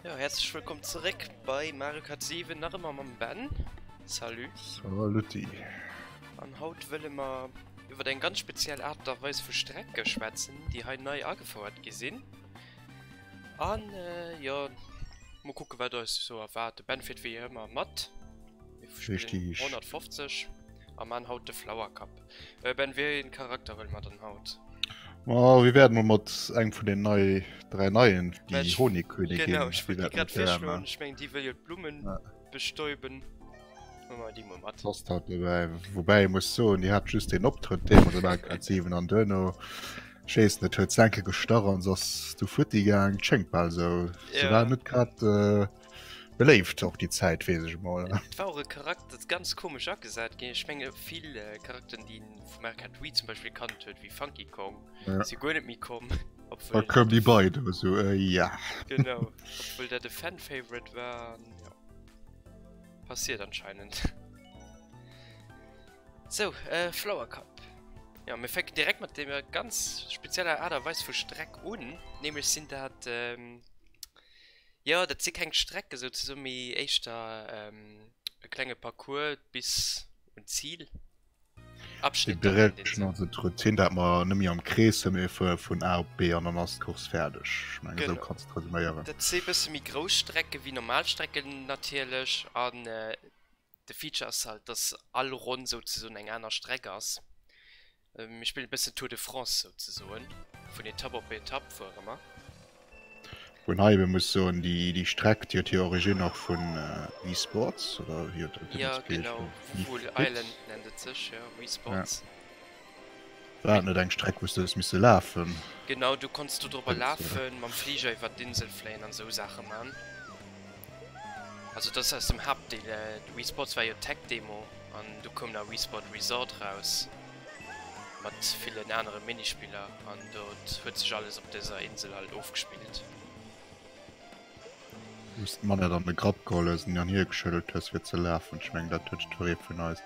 Ja, herzlich willkommen zurück bei Mario Kart 7, nach immer mit Ben. Salut. Saluti. An haut wollen wir über eine ganz spezielle Art und Weise von Strecke schwätzen, die heute neu angefordert gesehen. Und äh, ja, mal gucken, was uns so erwartet. Ben fährt wie immer mit. Mir spillen 150 a man haut de Flower Cup. Äh, ben, wie een Charakter wëll mat an haut? Oh, wir werden mal mat eng vun den nei drei neien die Honigkönigin genau, ich die grad virschloen ich meng die will jo Blumen ja. bestäuben Last hat dabei wobei muss so die hat just den optritt den so aggressiven an Döno Chase net huet senke gestarren sos du fut die gang schenkt ball so ja. war net grad äh, Beléift och déi Zäit, weess ech emol. Et war och e Charakter, dat ganz komesch agesat ginn ass. Ech menge vill Charakteren, déi een vum Arcade Wii zum Beispill gekannt huet, wéi Funky Kong, si guer net méi komm. Da koumen déi bei, do war sou, eh ja. Genau, obwuel dat e Fan-Favorite war an jo. Passiert anscheinend. Sou, Flower Cup. Jo, mir fänken direkt mat deemer ganz spezieller Aart a Weis vu Streck un, nämlech sinn dat. Jo, dat si keng Strecke souzesoen, mee éischter e klenge Parcours bis un d'Zil. Abschnitt dann an deem Sënn. Direction, also d'Routine, dat mer net méi am Krees sinn, mee fuere vun A op B an dann ass d'Course fäerdeg. Ech mengen, esou kanns d'resuméieren. Genau. Dat si e bësse méi grouss Strecke wéi normal Strecken natierlech. An De Feature ass halt, dass all Ronn souzesoen eng aner Streck ass. Mir spillen e bëssen Tour de France souzesoen, vun Etapp op Etapp fuere mer. Wou een hei ebe muss soen, déi Streck, déi huet hir Origine och vun Wii Sports, oder wéi huet dat Dëngens geheescht? Wii Sports, jo. War dat net eng Streck wou s du hues misse lafen? Genau, do konns du drop lafen, mam Fliger iwwert d'Insel fléien an esou Saache man. Also dat ass aus dem Haaptdeel. Wii Sports war jo d'Tech-Demo an du koum nach Wii Sport Resort raus mat villen anere Minispiller an do huet sech alles op dëser Insel halt ofgespillt. Wou's d'Manette an de Grapp geholl hues an déi an hir geschëddelt hues fir ze lafen. Ech mengen dat huet jiddweree vun eis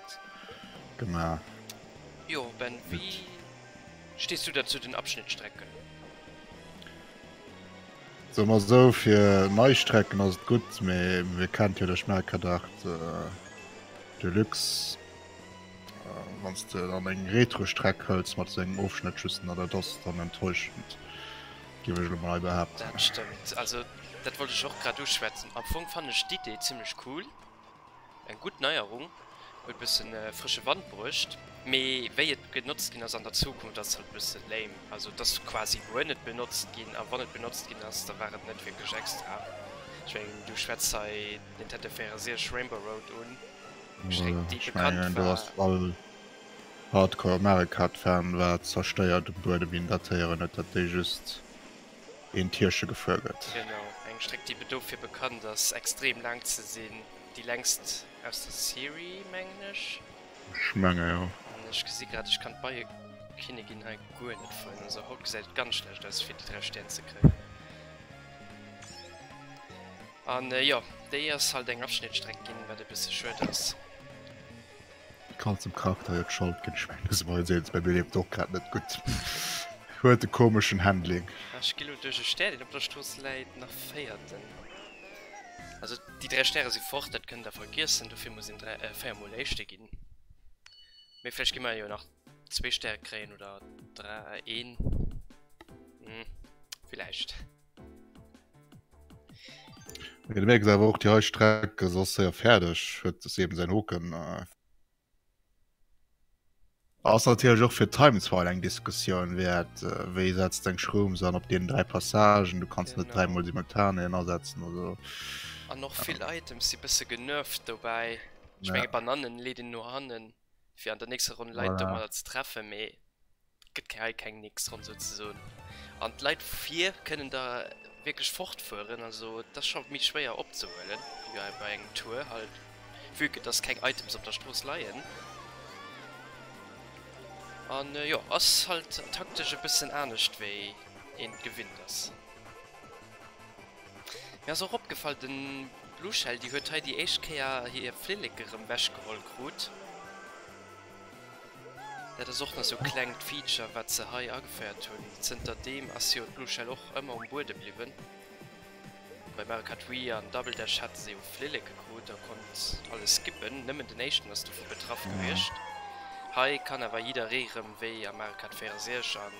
gemaach. Jo Ben, wéi stees du da zu den Abschnittstrecken? Soe mer esou, fir nei Strecken ass et gutt, mee mir kennt jo de Schmelkerdart Deluxe. Wann s de dann eng Retro-Streck hëls mat esou engem Ofschnëtt just, na dat ass dann enttäuschend. Géif ech elo mol hei behaapten. Dat stëmmt. Also dat wollt ech och grad uschwätzen. Am Fong fannen ech d'Idee zimmlech cool. Eng gutt Neierung. Huet e bësse frësche Wand bruecht. Mee wéi et genotzt ginn ass an der Zukunft ass halt e bësse lame. Also et ass quasi guer net benotzt ginn. A wann et benotzt ginn ass, da war et net wierklech extra. Ech mengen du schwätz hei Nintendo 64 Rainbow Road un. Ech mengen déi bekannt war. Hardcore America d'Fan war zersteiert um Buedem een dat héieren huet dat déi just een Tierche gefuer gëtt. Genau, eng Stréck déi dofir bekannt ass extrem laang ze sinn, déi längst aus der Serie mengen ech. Ech menge jo. An ech gesi grad ech kann d'Beiekinnigin hei guer net fannen, also haut gesäit et ganz schlecht aus fir déi 3 Stär ze kréien. An jo, déi ass halt eng Afschnittstreck ginn, wat e bësse schued ass. Kann zum Charakter jo d'Schold gin, ech mengen dëse Moien seet se bei mir leeft och grad net gutt, huet e komeschen Handling. Ech gi lo duerch e Stär deen op der Strooss läit nach véierten, also déi 3 Stäre si fort, dat kënnt der vergiessen, dofir muss een 4 mol éischte ginn, mee vläicht gi mer jo nach zwee Stäre kréien oder een, hm vläicht. Du merkst aber auch die Heustrecke so sehr fertig wird es eben sein Hoken äh. Ass natürlich auch für Times war eng Diskussion wert äh, wéi setzt deg Schrum an op den drei Passagen du kannst net dreimal simultan ersetzen oder An noch viel Items si bisse genëft dobäi Ech menge Bananen leet een no hannen fir an der nächster Runn Leit domadder ze treffe mee Gëtt hei keng Nix dran souzesoen. An d'Leit vir kënnen da wierklech fortfueren. Also et ass scho méi schwéier opzehuelen, wéi bei engem Tour halt, vue que dass keng Items op der Strooss leien. An jo, ass halt taktesch e bëssen anescht wéi een et gewinnt ass. Mir ass och opgefall, de Blue Shell, déi huet hei déi éischt Kéier hir Flilleke rëm wechgeholl krut. Dat ass och nach sou klengt Feature wat se hei ageféiert hunn. Zënter deem ass jo d'Blueshell och ëmmer um Buede bliwwen. Bei Mario Kart Wii an Double Dash hate se jo Flilleke krut a konnt alles skippen, nëmmen den éischten ass dovu betraff gewiescht. Hei kann awer jidderee rëm wéi a Mario Kart 64 an.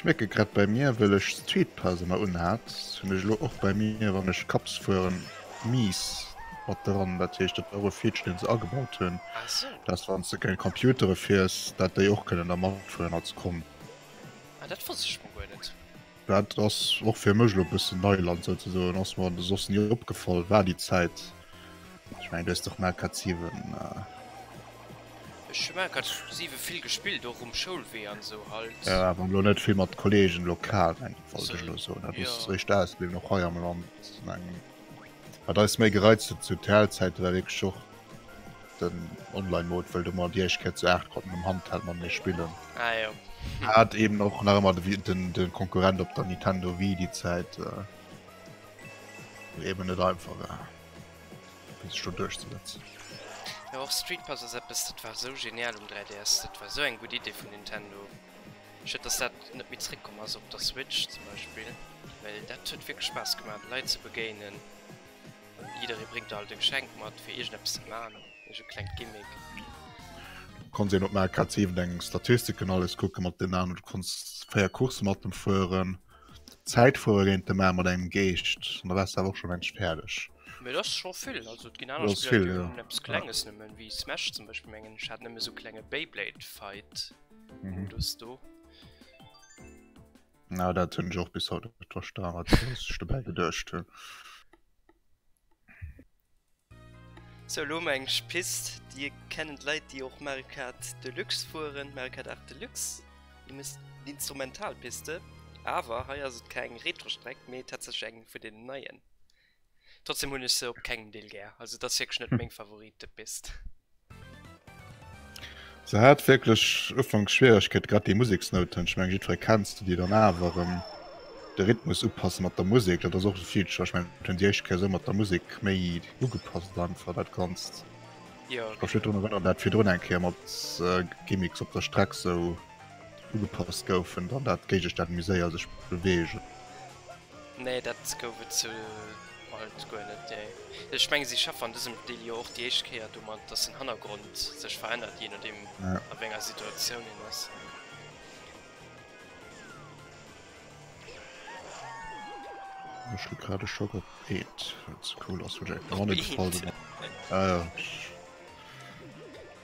Ech merken grad bei mir wëll ech d'Sweet Pass emmer un hat hun ech lo och bei mir wann ech Cups fueren mies mat dran dat heescht dat war och e Feature den se agebaut hun dass wanns de keng Computere fiers dat déi och kënnen da matfueren als Con. Ah dat wosst ech mol guer net. Dat ass och fir mech lo bëssen Neiland sou ze soen, ass mer soss nie opgefall, war déi Zäit. Ech mengen du hues dach Mario Kart 7. Ech hu Mario Kart 7 vill gespillt, och um Schoulwee an esou halt. Jo, awer lo net vill mat Kolleegen lokal, mengen ech, wollt ech lo soen. Dat ass eréischt ausbliwwen, och hei am Land, mengen. Wat eis méi gereizt huet zu TEL-Zäite war wierklech och. Den online mode wëll de mat iech keier zu 8 konnten um handheld mat mir spillen ah, jo. hat eben och nach ëmmer de den den konkurrent op der nintendo wie die zeit äh, eben net einfach war bis schon durchzusetzen jo och street pass ass eppes dat war sou genial um 3ds dat war sou eng gutt idee vun nintendo schëtt dass dat net méi zréck komm ass op der switch zum beispill well dat huet wierklech spaass gemaat leit ze begéinen Jidderee bréngt alt e Geschenk mat fir iergendeppes ze man, iergend e klengt Gimmick. Du kanns een op MareCards eeben deng Statistiken alles kucken mat den Aen, oder du kanns 4 Coursse mat em fueren, Zäit fuere géint de man mat engem Geescht an da wars de awer och schon längst fäerdeg. Mee et ass scho vill, also et ginn aner Spiller déi hunn eppes klenges nëmmen, wéi Smash zum Beispill mengen ech hat nëmmen esou klenge Beyblade Fight Modus do. Na dat hunn ech och bis haut net verstan, wat se sech dobäi geduecht hunn. So elo hu mer eng Pist, déi kennen d'Leit, déi och Mario Kart Deluxe fueren, Mario Kart 8 Deluxe. Déi misst en Instrumentalpiste, awer hei ass et keng Retrostreck, mee tatsächlech eng vun deenen neien. Trotzdem hun ech se op kengem Deel gär, also et ass wierklech net meng Favorit de Piste. Se hat wierklech ufanks Schwieregkeet, grad déi Museksnouten, ech meng jiddweree kennt se, déi dann awer erëm de Rhythmus upasse mat der Musek, dat ass och e Feature, ech meng et hunn déi éischt Kéier esou mat der Musek méi ugepasst einfach dat Ganzt. Jo, Ech ka mech net drun genau. erënneren, dat virdrun eng Kéier mat Gimmicks op der Streck esou ugepasst goufen, dann dat Géigeständ méi séier sech beweegen. Nee dat gouf et sou alt guer net nee. Ech mengen si schaffen an dësem Deal jo och déi éischt Kéier domat dass den Hannergrond sech verännert jee nodeem a wéi enger Situatioun een ass. Ech hu grad e Schock op Eent well et sou cool ass wou Jack the Money gefall sinn.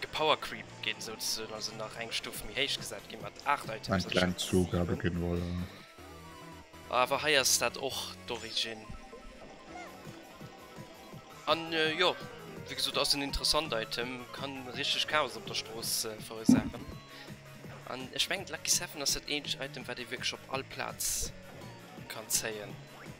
Gepowercreep gin souzesoen, also nach eng Stuff méi héich gesat gin mat 8 Items. Eng kleng Zougabe gin, voilà. Awer hei ass dat och d'Origin. An jo, wéi gesot ass en interessant Item, kann richteg Chaos op der Strooss verursaachen. An ech mengen de Lucky Seven ass dat eenzegt Item wat ee wierklech op all Plaz kann zéien.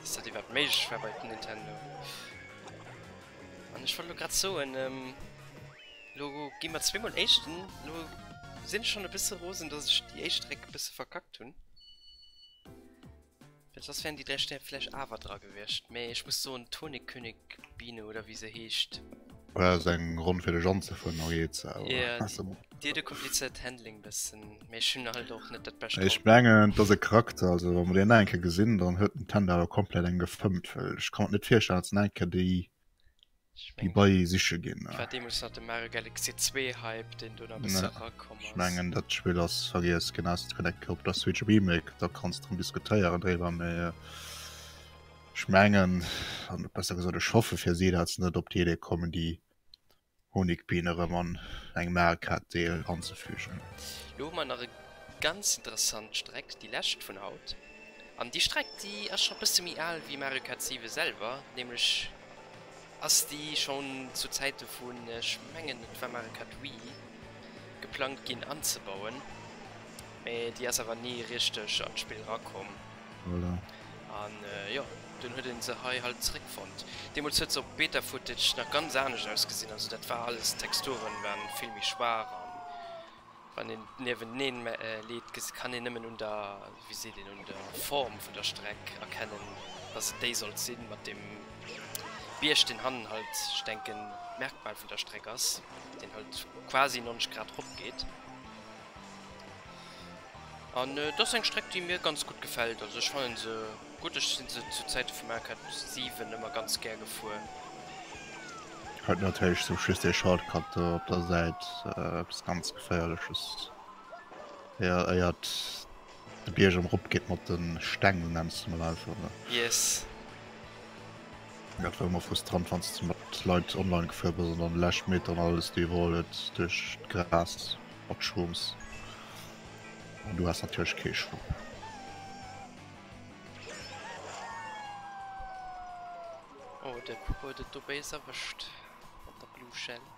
Dass dat iwwerhaapt méiglech war bei Nintendo. An ech wollt lo grad soen, ähm, lo gi mer zweemol Éischten. Lo sinn ech schonn e bësse rosen, dass ech déi éischt Réck e bësse verkackt hunn. Well soss wären déi dräi Stär vläch awer dra gewiescht. Mee ech muss soen, d'Honigkönig-Biene oder wéi se heescht. War dat eng Ronn fir dech anzefueren, Mariette, oder? Jo. Dir de komplizéiert Handling bëssen, mee ech hunn halt och net dat bescht Ech Auto. mengen et ass e Charakter, also wa mer deen nach eng Kéier gesinn, dann huet den Tender awer komplett eng gefëmmt, well ech kann mer net virstellen, dass nach eng Kéier déi Ech déi mengen, bei siche ginn. et war deemools nach de Mario Galaxy 2 Hype, deen do nach e bësse Ne, erakomm ech ass. mengen dat Spill ass vergiess ginn, außer et kënnt eng Kéier op der Switch e Remake, da kanns de rëm diskutéieren dréiwer, mee ech mengen, an besser gesot ech hoffe fir si, dat se net op déi Idee kommen, déi. Honigbienen erëm an engem al Kakteel anzefügen. Lo hu mer nach e ganz interessant Streck, déi lescht vun haut. An déi Streck déi ass scho e bësse méi al wéi Mario Kart 7 selwer, nämlech ass déi schonn zu Zäite vun, ech mengen et war Mario Kart Wii, geplangt ginn anzebauen, mä déi ass awer ni richteg an d'Spill erakomm. Voilà. An jo, dunn huet en se hei halt zeréckfonnt. Deemols huet se op Beta-Footage nach ganz anescht ausgesinn, also dat war alles, d'Texturen waren vill méi schwaach an wann een niewenteneen leet gesi kann een nëmmen un der, wéi seet een, un der Form vun der Streck erkennen dass et déi sollt sinn mat dem Bierg deen hannen halt, ech denken d'Merkmal vun der Streck ass, deen halt quasi 90 Grad ropgeet. An et ass eng Streck déi mir ganz gutt gefält, also ech fannen se gutt, ech sinn se zu Zäite vum Arcade 7 ëmmer ganz gär gefuer. Huet natierlech sou just ee Shortcut do op der Säit, eppes ganz geféierleches fir éiert de Bierg erëm erop geet mat de Steng, sou nennen se mol einfach elo. Yes. Dat war ëmmer frustrant wann s de mat Leit online gefuer bass an dann lescht Meter an alles do iwwerholl huet duerch d'Gras. op d'Shrooms an du has natierlech kee Choix. Oh de Puppe huet et do béis erwëscht mat der Blue Shell.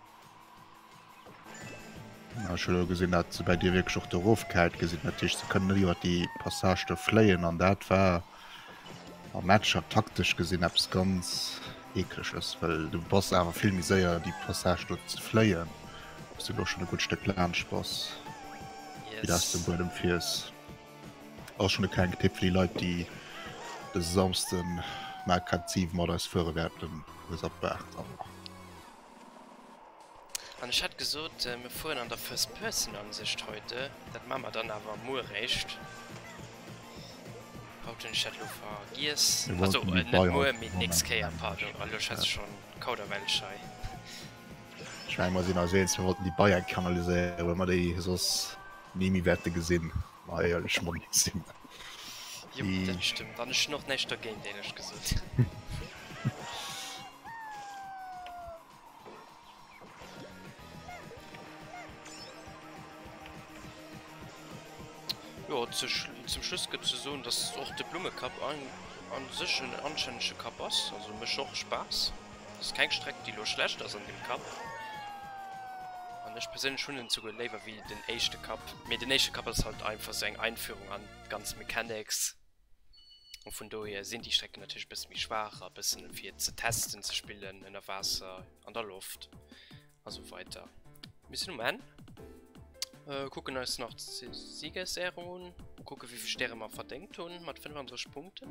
Ah, ech hun elo gesinn dat se bäi dir wierklech och do rof gehäit gesi, dat heescht se kënnen net iwwer déi Passage do fléien an dat war Am Matcher taktesch gesinn eppes ganz Eekleches, well du bass awer vill méi séier déi Passage do ze fléien, wou's du elo schonn e gutt Stéck laanscht bass, wéi de aus dem Buedem fiers. Ass schonn e klenge Tipp fir déi Leit, déi dëse Samsden Mark K7 mat eis fuere wäerten, Hues ab Baach dran. An ech hat gesot, mir fueren an der First Person Ansicht heute. Dat maa mer dann awer muer réischt. Haut hun ech dat lo vergiess. Also net muer, mee d'nächst Kéier. Pardon, elo ech hat schon Kauderwelsch hei. Ech mengen mer sin eis eens, mir wollten déi Beier kanaliséieren, well mer déi soss ni méi wäerte gesinn. Eierlech Monni sinn. Jo, dat stëmmt. An ech hunn och näischt dergéint, éierlech gesot. Jo, zu Schlu-, zum Schluss gëtt ze soen, datt och de Blummekapp an, an sech en anstännege Kapp ass. Also mécht och Spaass. Dass ass keng Streck déi lo schlecht ass an dem Cup an ech perséinlech hunn en souguer léiwer wéi den éischte Cup, mee den éischte Cup ass halt einfach sou eng Einführung an d'ganz Mechanics an vun dohier sinn déi Strecken natierlech e bësse méi schwaach a bëssen fir ze testen ze spillen ënner Waasser, an der Loft a sou weider. Mir sinn um Enn, kucken eis nach d'Siegesehrung un a kucke wéivill Stäre mer verdéngt hunn mat 35 Punkten.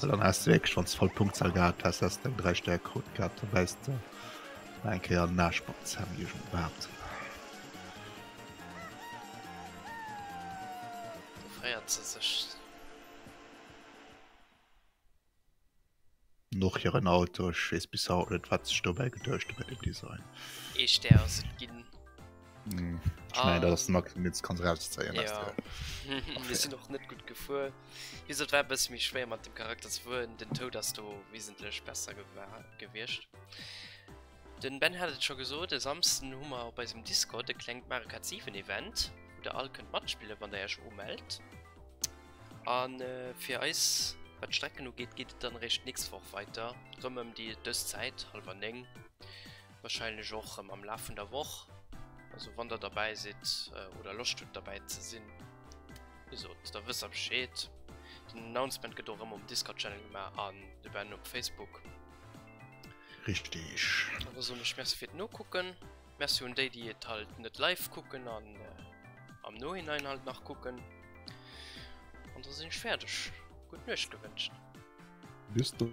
Well dann häss de wierklech, wann s de voll Punktzahl gehat häss, häss de eng 3 Stärkequote gehat. Da bäisst de nach eng Kéier an den Aarsch mat Sam Nugent, behaapt ech. Geféiert se sech. Noch hiren Auto, ech weess bis haut net, wat sech dobäi geduecht hu bei dem Design. Ee Stär ass et ginn. Mm, ich mein, ah. das mag jetzt ganz raus zeigen ja. wir sind noch nicht gut gefühl wie gesagt, war bis mich schwer mit dem charakter zu wurden den tod dass du wesentlich besser gewirrscht den ben hat schon gesucht der samsten humor bei diesem discord der klingt markativen event der all könnt matspiele wann der schon ummeldet an äh, für eis was strecken geht geht dann recht nichts vor weiter um die das zeit halber wahrscheinlech och rem am Laf vun der Woch. Also wann der dabei sidd oder Loscht hutt dabei ze sinn, gesot da wësst der Bescheed. Den Announcement gëtt och rem um Discord Channel gemaach an de Ben op Facebook. Richteg. An da soen ech Merci fir d'Nokucken. Merci un déi déi et halt net live kucken an am Nohinein halt nach kucken. An da sinn ech fäerdeg. Gutt Nuecht gewënscht. Bis dann.